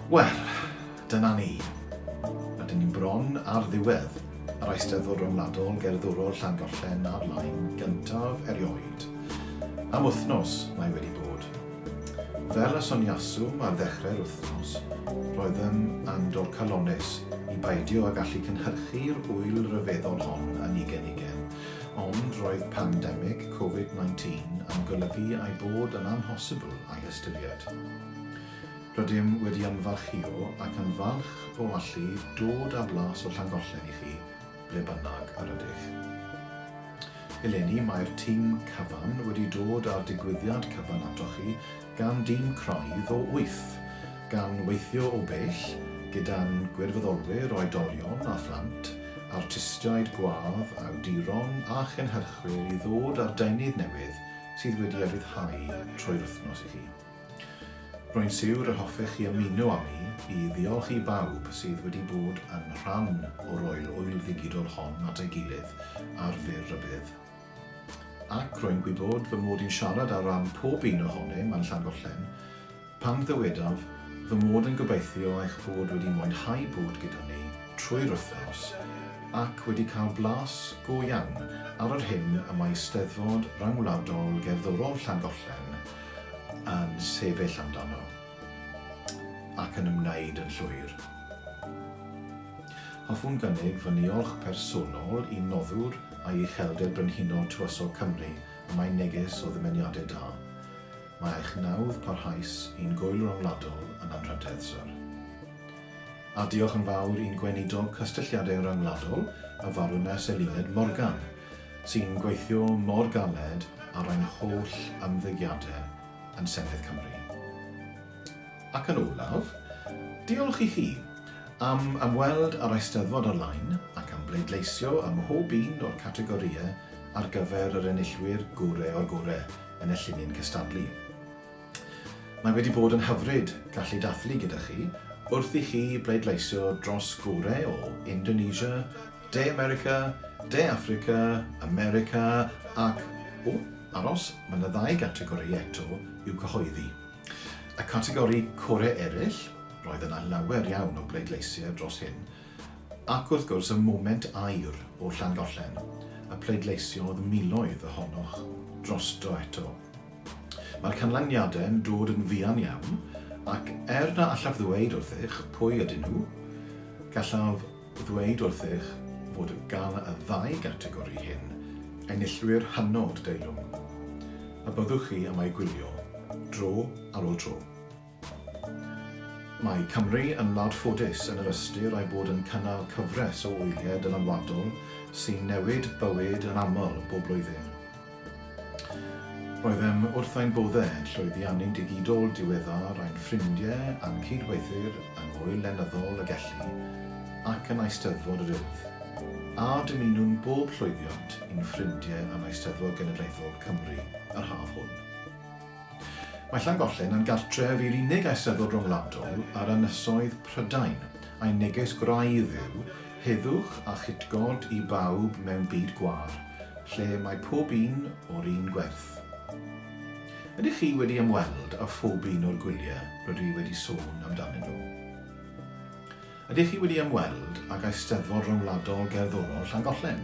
Wel, dyna ni. Rydyn ni bron ar ddiwedd yr Eisteddfod Ryngwladol Gerddorol Llangollen ar-lein gyntaf erioed. Am wythnos mae wedi bod. Fel y soniaswm ar ddechrau'r wythnos, roedd yn andro calonnus i beidio â gallu cynhyrchu'r ŵyl ryfeddol hon yn ugain ugain, ond roedd pandemig Covid 19 yn golygu ei bod yn amhosibl a'i ystyried. Rydym wedi ymfalchïo ac yn falch o allu dod â blas o Llangollen i chi ble bynnag yr ydych. Eleni, mae'r tîm cyfan wedi dod â'r digwyddiad cyfan atoch chi gan dîm craidd o wyth, gan weithio o bell gyda'n gwirfoddolwyr oedolion a phlant, artistiaid gwadd, awduron a chynhyrchwyr i ddod â'r deunydd newydd sydd wedi ei ryddhau trwy'r wythnos i chi. Rwy'n siwr y hoffech chi ymuno â mi i ddiolch i bawb sydd wedi bod yn rhan o roi'r ŵyl ddigidol hon at ei gilydd ar fyr rybudd. Ac rwy'n gwybod fy mod i'n siarad ar ran pob un ohonym yn Llangollen pan ddywedaf fy mod yn gobeithio eich bod wedi mwynhau bod gyda ni trwy'r wythnos ac wedi cael blas go iawn ar yr hyn y mae Eisteddfod Ryngwladol Gerddorol Llangollen yn sefyll amdano ac yn ymwneud yn llwyr. Hoffwn gynnig fy niolch personol i Noddwr a'i Uchelder Brenhinol Tywysog Cymru am ei neges o ddimyniadau da. Mae eich nawdd parhaus i'n gŵyl ryngwladol yn anrhydedd, Syr. A diolch yn fawr i'n Gweinidog Cysylltiadau Rhyngwladol, y Farwnest Eluned Morgan, sy'n gweithio mor galed ar ein holl ymddygiadau yn Senedd Cymru. Ac yn olaf, diolch i chi am ymweld â'r Eisteddfod ar-lein ac am bleidleisio ym mhob un o'r categorïau ar gyfer yr enillwyr gore o'r gore yn y llinyn cystadlu. Mae wedi bod yn hyfryd gallu dathlu gyda chi wrth i chi bleidleisio dros gore o Indonesia, De America, De Affrica, America ac, o, aros, mae yna ddau gategori eto i'w cyhoeddi. Y categori Core Eraill, roedd yna lawer iawn o bleidleisiau dros hyn, ac wrth gwrs y Moment Aur o Llangollen, y pleidleisiodd miloedd ohonoch drosto eto. Mae'r canlyniadau'n dod yn fuan iawn, ac er na allaf ddweud wrthych pwy ydyn nhw, gallaf ddweud wrthych fod gan y ddau gategori hyn enillwyr hynod deilwng, y byddwch chi am eu gwylio dro ar ôl tro. Mae Cymru yn wlad ffodus yn yr ystyr ei bod yn cynnal cyfres o wyliau dylanwadol sy'n newid bywyd yn aml bob blwyddyn. Roeddem wrth ein bodde yn llwyddiannu'n digidol diweddar ein ffrindiau a'n cydweithwyr yng Ngŵyl Lenyddol y Gelli ac yn Eisteddfod yr Urdd, a dymunwn bob llwyddiant i'n ffrindiau yn Eisteddfod Genedlaethol Cymru yr haf hwn. Mae Llangollen yn gartref i'r unig eisteddfod ryngwladol ar ynysoedd Prydain, a'i neges gwraidd yw, heddwch a chytgord i bawb mewn byd gwâr, lle mae pob un o'r un gwerth. Ydych chi wedi ymweld â phob un o'r gwyliau rydw i wedi sôn amdanyn nhw? Ydych chi wedi ymweld ag Eisteddfod Ryngwladol Gerddorol Llangollen?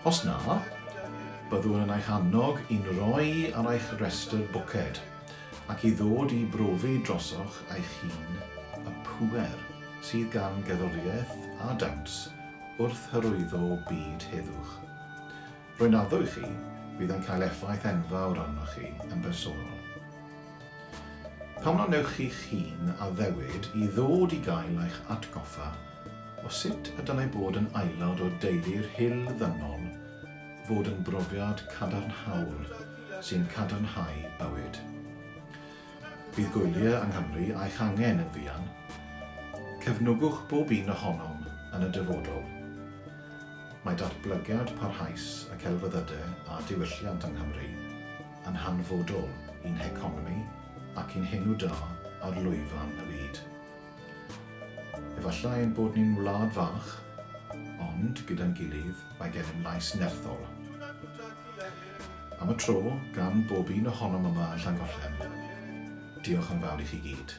Os na, byddwn yn eich annog i'n rhoi ar eich rhestr bwced ac i ddod i brofi drosoch eich hun y pŵer sydd gan gerddoriaeth a dawns wrth hyrwyddo byd heddwch. Rwy'n addo i chi, bydd yn cael effaith enfawr arnoch chi yn bersonol. Pam na wnewch chi'ch hun addewid i ddod i gael eich atgoffa o sut y dylai bod yn aelod o deulu'r Hyll Ddynol fod yn brofiad cadarnhaol sy'n cadarnhau bywyd. Bydd gwyliau yng Nghymru a'ch angen yn fuan. Cefnogwch bob un ohonom yn y dyfodol. Mae datblygiad parhaus y celfyddydau a diwylliant yng Nghymru yn hanfodol i'n heconomi ac i'n henw da ar lwyfan y byd. Efallai ein bod ni'n wlad fach, ond, gyda'n gilydd, mae gennym lais nerthol. Am y tro, gan bob un ohonom yma yn Llangollen, diolch yn fawr i chi gyd.